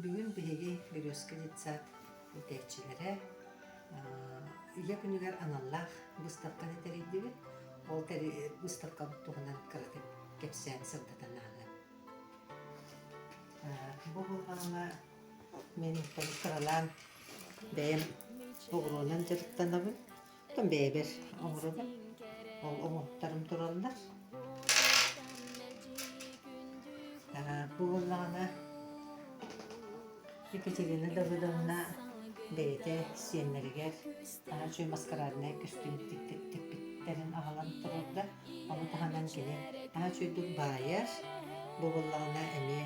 Бүгүн биһиги Өрөскө детсад иитээччилэрэ үйэ күнүгэр аналлаах быыстапканы тэрийдибит. Ол быыстапка туһунан кыратык кэпсээн сырдатан ааҕыам. Бу булҕаҥҥа мин кыралаан бэйэм оҕуруонан дьарыктанабын. бэйэбэр оҥоробун. Ол оҥоһуктарым тураллар. бу буоллаҕына Екатерина Давыдовна бэйэтэ сиэннэригэр аһа үчүгэй маскараднай көстүүм тикпиттэрин аҕалан турарга. Ону таһынан кини аһа үчүгэйдик баайар. Бу буоллаҕына эмиэ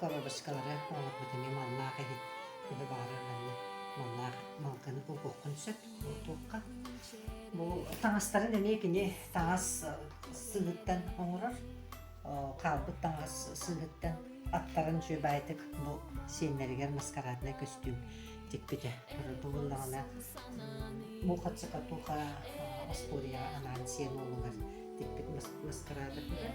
Коробочкалары оҥорбут эмиэ маллаах иһи быһа баара ылынна. Маллаах малканы булгуоххун сөп, бултуохха. Бу таҥастарын эмиэ кини таҥас сыһыттан оҥорор. Хаалбыт таҥас сыһыттан аттарын дьүөбэйитик бу сиэннэригэр маскараднай көстүүм тикпитэ. Булуннаҕына бу хаццакатуха, Восполье анаан сиэн уолугар тикпит маскарадатыгар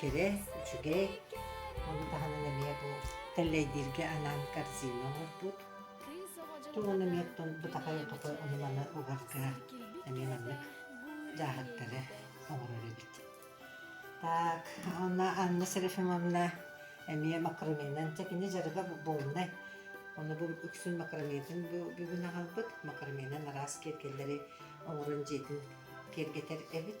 Кэрэ, үчүгэй, ону таһынан эмиэ бу тэллэйдииргэ анаан корзина оҥорбут. Тум ону эмиэттэн бутахай хапы онуманы угарга эмиэ маннык дьааһыктары оҥорор эбит. Так, онно Анна Серафимовна эмиэ макарониннан дьэ кини дьарыга буолунай. Ону бу үксүн макаронетин бу бүгүн аҕалбыт. Макаронинан араас киэргэллэри оҥорон дьиэтин киэргэтэр эбит.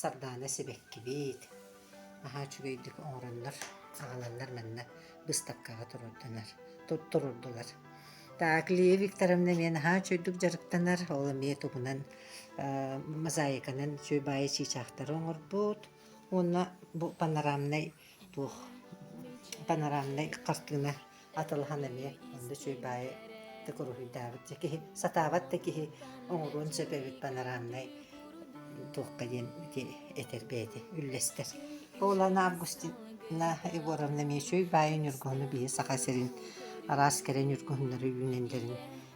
Сардаана сибэккибит, аһаа үчүгэйдик оҥороннор, аҕаланнар манна быыстапкаҕа туруорданар, туттурурдулар. Так, Лия Викторовна эмиэ наһаа үчүгэйдик дьарыктанар, ол эмиэ тугунан э, мозаиканан сүөбаайы чыычаахтары оҥорбут уонна бу панорамнай туох панорамнай картина атылаһан эмиэ онно үчүгэй баайы так уруһуйдаабыт дьэ киһи сатаабат да киһи оҥоруон сөп эбит панорамнай туохха диэн ити этэр бэйэти үллэстэр. Олана Августина Егоровна Мечей баайы Ньургуһуну бийэ Саха сирин араас кэрэ ньургуһуннары үүнэллэрин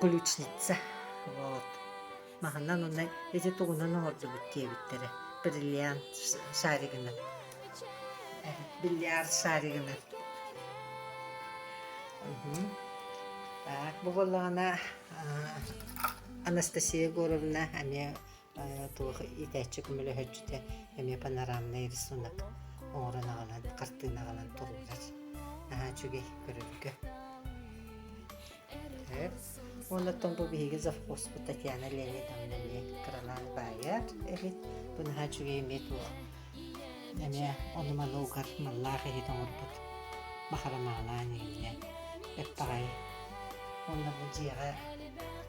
ключница вот маһынан уонна ити тугунан оҥордубут диэбиттэрэ бриллиант шаригынан бильярд шаригынан так бу буоллаҕына анастасия егоровна эмиэ туох иитээччи көмөлөһөөччүтэ эмиэ панорамнай рисунок оҥорон аҕалан хартыына аҕалан турууллар наһаа үчүгэй көрөргө Оннотон бу биһиги завхозпут Татьяна Леонидовна эмиэ кыралаан баайар эбит. Бу наһаа үчүгэй эмиэ туох эмиэ ону-маны угар маллаах иһит оҥорбут бахарамаалаан иһиннэ эппэҕэй. Онно бу дьиэҕэ